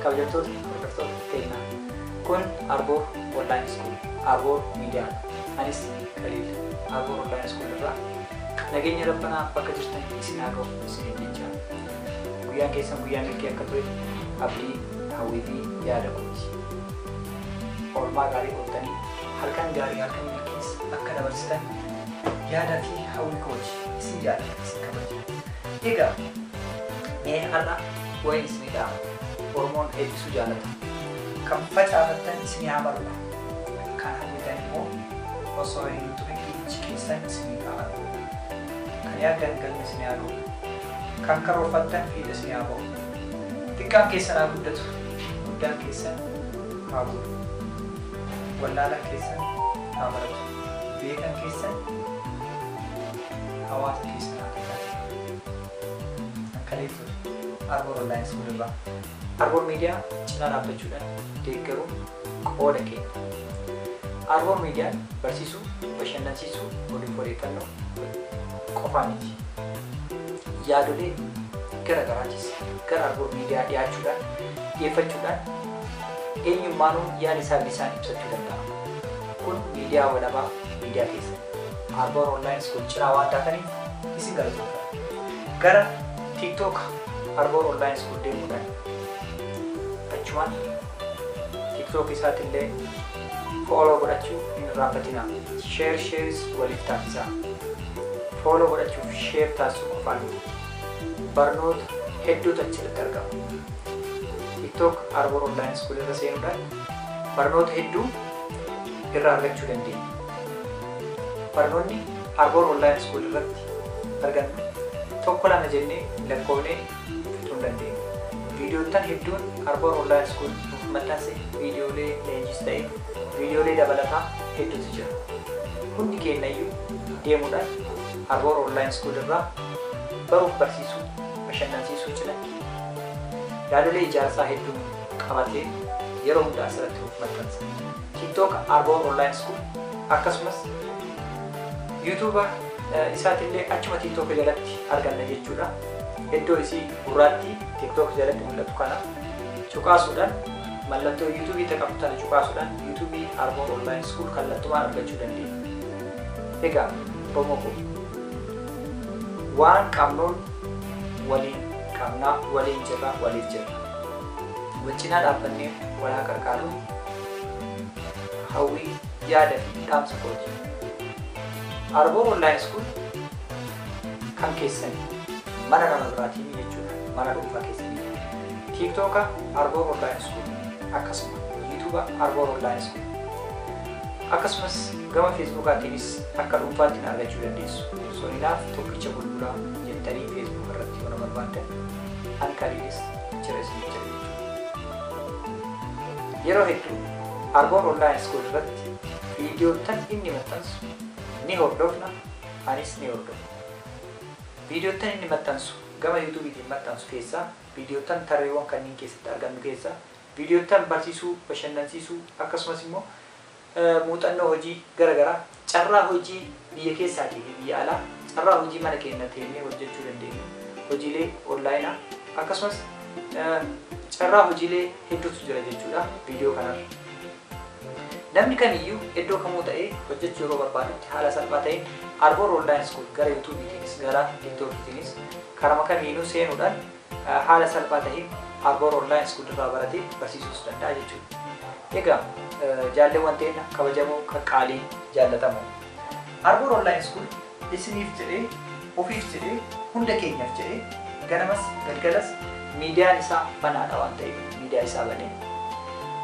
kabajamtoota hordoftoota keenyaa kun arboo online school arboo miidiyaa anis qaliil arboo online school irraa nageenya rabbanaa bakka jirtan isin haa ga'u isiniin jecha guyyaan keessan guyyaa milkii akka ture abdii hawwii fi yaada kooti. Oolmaa gaarii ooltanii halkan gaarii halkan milkiis akka dabarsitan yaada fi hawwii kooti. Isin jaalladha isin kabaja. Egaa mee har'a waa'een isinii dha'ama. Oromoon eebbisuu jaallata. Kan facaafattan isinii haa margu. Kan hawwitan immoo osoo hin turin iji keessan isiniif haa argu. Kan yaaddan galma isinii haa ga'u. Kan karoorfattan fiixa isinii haa ba'u. Xiqqaan keessan haa guddatu, guddaan keessan haa goru. Wallaalaan keessan haa baratu, beekan keessan hawaasa keessan haa tajaajilu. Akkanee ture. Arboor Online School irraa. Arboor Media cinaa dhaabbachuudhaan deeggaruun. Qooda keenya. Arwor Median barsiisuu, bashannansiisuu, oduuf odeeffannoo qofaa miti. Yaadolee gara garaachis gara Arwor Media dhiyaachuudhaan, dhiyeeffachuudhaan eenyummaanuu yaada isaa bilisaan ibsachuu danda'a. Kun miidiyaa walabaa miidiyaa keessan Arwor Online School cinaa waan taataniif isin galatoomfanna. Gara TikTok Arwor Online School deemuudhaan achumaan. Tiktok isaatillee follow godhachuu hin irraanfatinaa. Share shares waliif taasisaa. Follow godhachuuf share taasisuu qofaan miti. Barnoota hedduutu achirratti argama. Tiktok Arbor Online School irra seenuudhaan barnoota hedduu irraa argachuu dandeenya. Barnoonni Arbor Online School irratti argannu tokko lama jennee lakkoofnee Utuu hin dandeenye. Viidiyoottan hedduun Arbor Online School nuuf maxxanse viidiyoolee leenjiis ta'e viidiyoolee dabalataa hedduutu jira. Hundi keennayyuu deemuudhaan Arbor Online School irraa baruuf barsiisuu, bashannansiisuu cinatti yaadolee ijaarsaa hedduu qabatee yeroo hunda asirratti nuuf maxxansa. TikTok Arbor Online School akkasumas YouTube isaatillee achuma TikTok jalatti arganna jechuudha. Iddoo isii gurraattii TikTok jalatti mul'atu kana cuqaasuudhaan mallattoo YouTube taqabdu tana cuqaasuudhaan YouTube Armor Online School kallattumaan argachuu dandeenya. Egaa qomoo koo waan qabnuun waliin qabnaa, waliin jirra, waliif jirra. Wal cinaa dhaabbannee wal haa qarqaaruun hawwii, yaada fi dhaamsa kooti. Armor Online School kan keessani mana nama biraatiin jechuudha mana dhuunfaa keessanii tiiktooka arboor online school akkasuma yuutuuba arboor online school akkasumas gama feesbuukaatiinis akka dhuunfaatti na argachuu dandeessu soninaaf tokkicha bulbulaa jettanii feesbuuk irratti yoo na barbaaddan an kaliinis jira isin jira yeroo hedduu arboor online school irratti viidiyoottan inni maxxansu ni hordofna Anis ni hordofa. Viidiyoottan inni maxxansu gama Yuutuubiitiin maxxansu keessaa viidiyoottan tarreewwan kanneen keessatti argannu keessaa viidiyoottan barsiisuu, bashannansiisuu akkasumas immoo muuxannoo hojii gara garaa carraa hojii biyya keessaatii fi biyya alaa carraa hojii mana keenya teennee hojjechuu dandeenyu hojiilee onlaayinaa akkasumas carraa hojiilee hedduutu jira jechuudha viidiyoo kanarra. Namni kamiyyuu iddoo kamuu ta'ee hojjechuu yeroo barbaadutti haala salphaa ta'een Arbor Online School gara YouTube tiinis gara TikTok tiinis karama kamiinuu seenuudhaan haala salphaa ta'een Arbor Online School irraa baratee barsiisuus danda'a jechuudha. Egaa jaalleewwan teenna kabajamoo qaqqaalii jaallatamoo Arbor Online School Isiniif jedhee, ofiif jedhee, hunda keenyaf jedhee ganamas galgalas miidiyaan isaa banaadha waan ta'eef miidiyaa isaa banee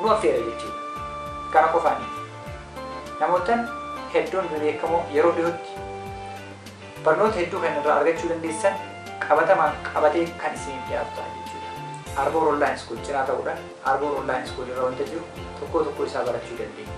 nu affeera jechuudha. Kana qofaa miti. Namoottan hedduun bebeekamoo yeroo dhiyootti barnoota hedduu kan irraa argachuu dandeessan qabatamaan qabatee kan isiniif dhiyaatu ta'a jechuudha. Arboor Online School cinaa ta'uudhan Arboor Online School irra wanta jiru tokkoo tokkoo isaa barachuu dandeenya.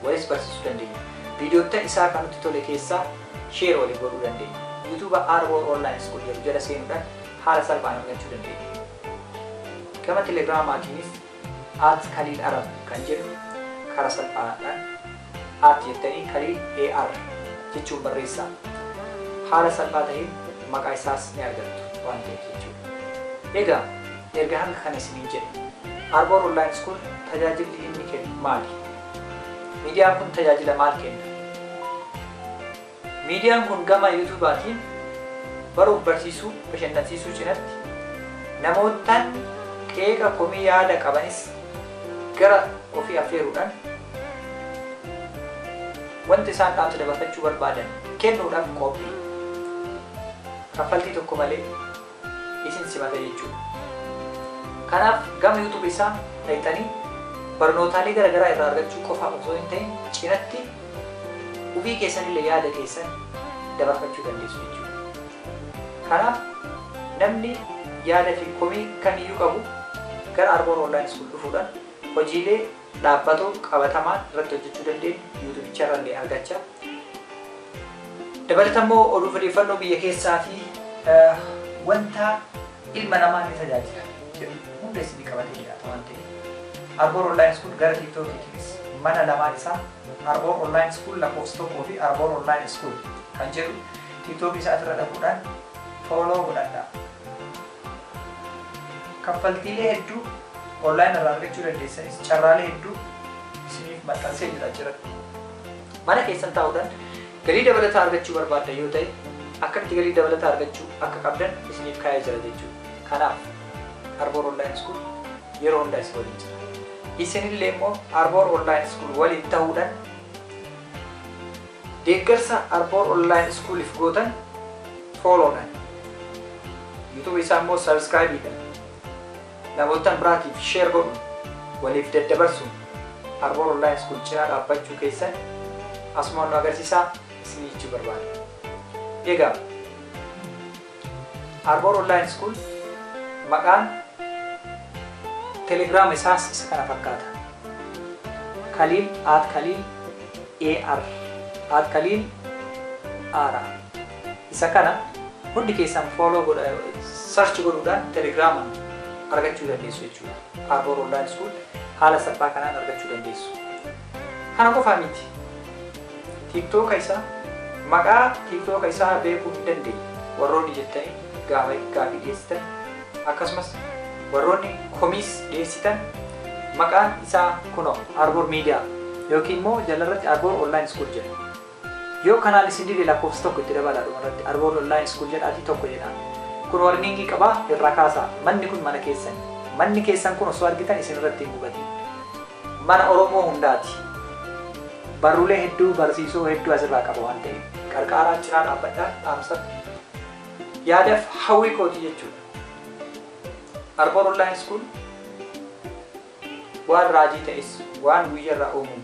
waliis barsiisuu dandeenya. Viidiyoottan isaa kan nutti tole keessaa share walii godhuu dandeenya. Yuutuuba Arbor Online School jedhu jala seenuudhan haala salphaan argachuu dandeenya. Gama Telegramaatiinis at kaliil arab kan jedhu kara salphaadhan at jettanii kaliil AR jechuun barreessaa. Haala salphaa taheen maqaa isaas ni argattu waan ta'eef jechuudha. Egaa Erga hanga kana isiniin jedhe, Arbor Online School tajaajilli inni kennu maali? Miidiyaan kun tajaajila maal kenna? Miidiyaan kun gama Yuutuubaatiin baruuf barsiisuu, bashannansiisuu cinatti namoottan qeeqa, komii, yaada qabanis gara ofii affeeruudhan wanta isaan dhaamsa dabarfachuu barbaadan kennuudhaf qoophi. Kaffaltii tokko malee. isin simata jechuudha. Kanaaf gama youtube isaa dhayxanii barnootaalee gara garaa irraa argachuu qofaaf osoo hin ta'in cinatti ufii keessanillee yaada keessan dabarfachuu dandeessu jechuudha. Kanaaf namni yaada fi komii kamiyyuu qabu gara Arboor Online School dhufuudhaan hojiilee dhaabbato qabatamaan irratti hojjechuu dandeenyu yuutubichaarra illee argacha. Dabalata immoo oduu odeeffannoo biyya keessaa fi wanta ilma namaa ni tajaajila jedhu hunda isinii qabatee dhiyaata waan ta'eef. Arboor Online School gara TikTokiitiinis mana lamaan isaa Arboor Online School lakkoofsa tokkoo fi Arboor Online School kan jedhu TikTokii isaatirra dhaquudhaan fooloo godhadhaa. Kaffaltiilee hedduu online irraa argachuu dandeessanis carraalee hedduu isiniif maxxansee jira achiratti. Mana keessan taa'uudhaan galii dabalataa argachuu barbaaddan yoo ta'e akkamitti galii dabalataa argachuu akka qabdan isiniif kaa'ee jira jechuudha. Kanaaf Arboor Online School yeroo hundaa isin waliin jira. Isinillee immoo Arboor Online School waliin ta'uudhaan Deeggarsa Arboor Online School'f gootan Follow dhan, YouTube isaa immoo Subscribe dhan, namoottan biraatiif Share godhuun, waliif daddabarsuun Arboor Online School cinaa dhaabbachuu keessan asumaan nu agarsiisaa isiniin jechuu barbaanna. Egaa. Arboor Online School maqaan telegram isaas isa kana fakkaata. Khalil at Khalil AR at Khalil Ara isa kana hundi keessan follow godha search godhuudhaan telegram argachuu dandeessu jechuudha. Arboor Online School haala salphaa kanaan argachuu dandeessu. Kana qofaa miti tiktooka isaa maqaa tiktooka isaa beekuu hin dandeenye warroonni jettanii gaafa gaafii dhiyeessitan akkasumas warroonni komiis dhiyeessitan maqaan isaa kunoo Arbor Media yookiin immoo jalarratti Arbor Online School jedha. Yoo kanaan isin dide lakkoofsa tokko itti dabalaa dhumarratti Arbor Online School jedhaatii tokko jedhaa. Kun warningii qabaa irraa kaasaa manni kun mana keessan manni keessan kun osoo argitan isin irratti hin gubatiin. Mana Oromoo hundaati. Barruulee hedduu barsiisoo hedduu asirraa qaba waan ta'eef. Qarqaaraan cinaa dhaabbadha dhaamsa yaadaf hawwii kooti jechuudha. Arboor Online School waan raajii ta'es waan guyyarraa uumuun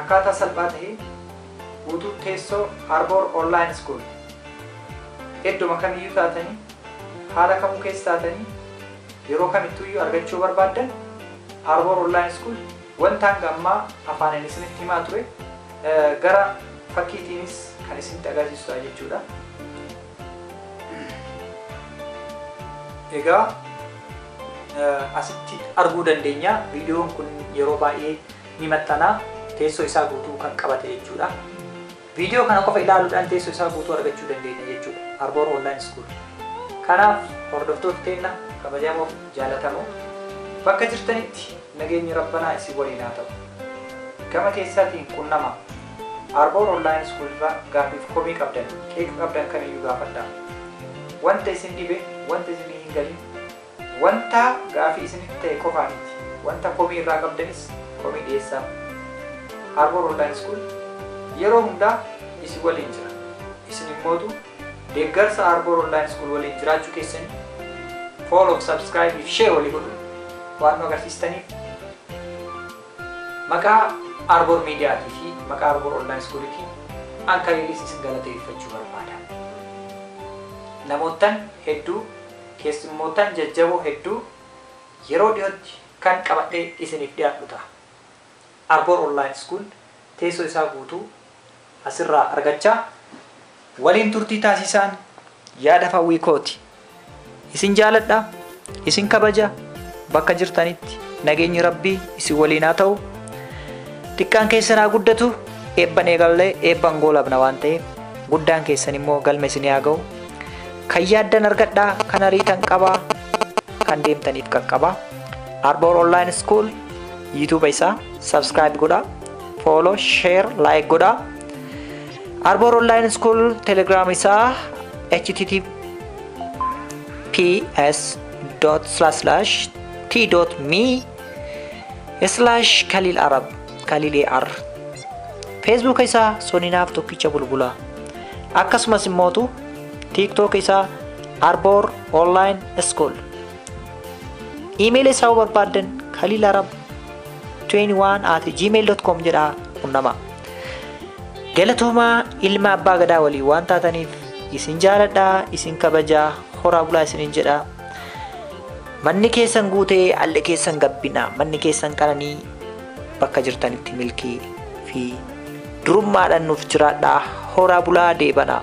Akkaataa salphaa taheen guutuu teessoo Arbor Online School eddoma kamiyyuu taatanii, haala kamuu keessa taatanii, yeroo kamittuu iyyuu argachuu yoo barbaaddan, Arbor Online School wanta hanga ammaa afaaniin isinitti himaa ture gara fakkiitiinis kan isinitti agarsiisu ta'a jechuu dha. Egaa asitti arguu dandeenya, viidiyoon kun yeroo baay'ee ni maxxana, teessoo isaa guutuu kan qabate jechuudha. Viidiyoo kana qofa ilaaluudhaan teessoo isaa guutuu argachuu dandeenya jechuudha. Arboor Online School. Kanaaf hordoftoota teenna kabajamoo fi jaalatamoo bakka jirtanitti nageenyi Rabbanaa isin waliin haa ta'u. Gama keessaatiin qunnama. Arboor Online School irraa gaaffiif komii qabdan, qeeqa qabdan kamiyyuu gaafadhaa. Wanta isin dhibe, wanta isin hin galin Wanta gaafii isinitti ta'e qofaa miti, wanta komii irraa qabdanis komii dhiyeessaa. Harbour Online School yeroo hundaa isin waliin jira. Isin immootu deeggarsa Harbour Online School waliin jiraachuu keessanii follow, subscribe fi share walii godhuun waan nu agarsiistaniif maqaa Harbour Media tii fi maqaa Harbour Online School tiin an kaleellis isin galateeffachuu barbaada. Namoottan hedduu Keessummootan jajjaboo hedduu yeroo dhiyootti kan qabadhee isiniif dhiyaadhu taha. Arbor Online School teessoo isaa guutuu asirraa argachaa waliin turtii taasiisaan yaadaf hawwii kooti. Isin jaaladha, isin kabaja, bakka jirtanitti nageenyi Rabbii isin waliin haa ta'u. Xiqqaan keessan haa guddatu, eebban eegallee eebban goolabna waan ta'eef guddaan keessan immoo galma isinii haa ga'u. Kan yaaddan argadhaa, kan ariitan qabaa, kan deemtaniif qaqqabaa. Arboor Online School YouTube isaa subscribe godhaa, follow, share, like godhaa. Arboor Online School Telegram isaa https dot slash slash t dot me slash kaliil arab kaliil ar feesbuuka isaa soninaaf tokkicha bulbulaa akkasumas immootu TikTok isaa Arbor Online School. Iimeela isaa yoo barbaaddan Khalil Arab 21 at gmail.com jedhaa qunnamaa. Galatoomaa ilma abbaa gadaa waliin waan taataniif isin jaaladhaa isin kabajaa horaa bulaa isinin jedha. Manni keessan guutee alli keessan gabbina manni keessan qananii bakka jirtanitti milkii fi durummaadhaan nuuf jiraadhaa horaa bulaa deebanaa.